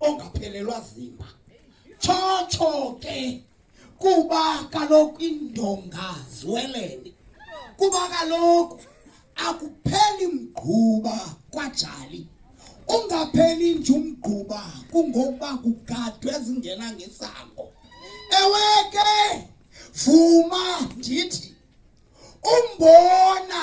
ongaphelelwa zimba tshotsho ke kuba kaloku indonga ziwelene kuba kaloku akupheli mgquba kwajali ungapheli nje umgquba kungokuba kugadwe ezingena ngesango ewe ke vuma ndithi umbona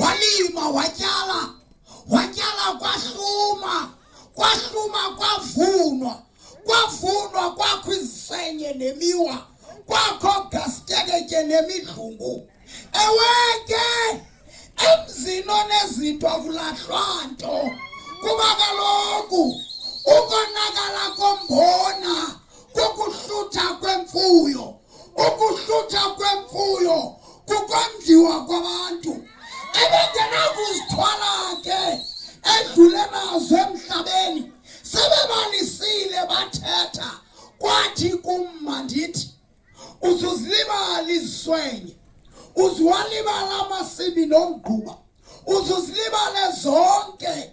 Walima, watyala, watyala kwahluma, kwahluma kwavunwa, kwavunwa kwakho izisenye nemiwa, kwakho gasteketyhe nemidlungu. Ewe ke emzini onezinto akulahlwa nto kuba kaloku ukonakala kombona kokuhlutha kwemfuyo ukuhlutha kwemfuyo kukondiwa kwabantu ebengenakuzithwala ke edlule nazo emhlabeni sebebalisile bathetha kwathi kumma ndithi uzuzilibala iziswenye uziwalibala amasimi nomgquba uzuzilibale zonke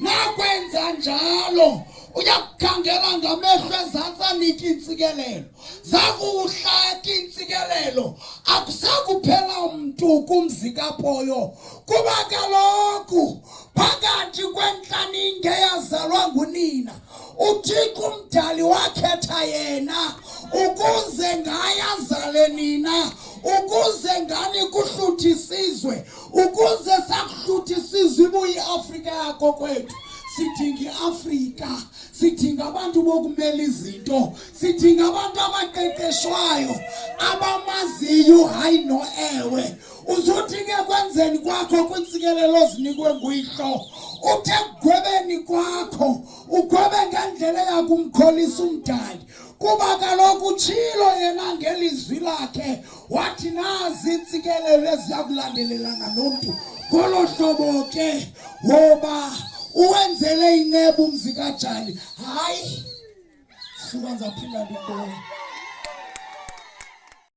Nakwenza njalo uya kukhangela ngamehlo ezantsi anike iintsikelelo zakuwuhlaki iintsikelelo akusakuphela mntu kumzi kapoyo kuba kaloku phakathi kwentlaninge yazalwa ngunina uthixo umdali wakhetha yena ukuze ngaye azale nina ukuze ngani kuhluthi isizwe ukuze sakuhluthi sizibuye iafrika yako kwethu sidinga iafrika sidinga abantu bokumela izinto sidinga abantu abaqeqeshwayo abamaziyo hayi no ewe uzothi ke kwenzeni kwakho kwintsikelelo ozinikwe nguyihlo uthe kugwebeni kwakho ugwebe ngendlela yakumkholisa umdali kuba kaloku utshilo yena ngelizwi lakhe wathi nazi iintsikelelo eziya kulandelelana nomntu ngolo hlobo ke woba uwenzele inceba umzi kajali hayi suka ndizaphinda ndibona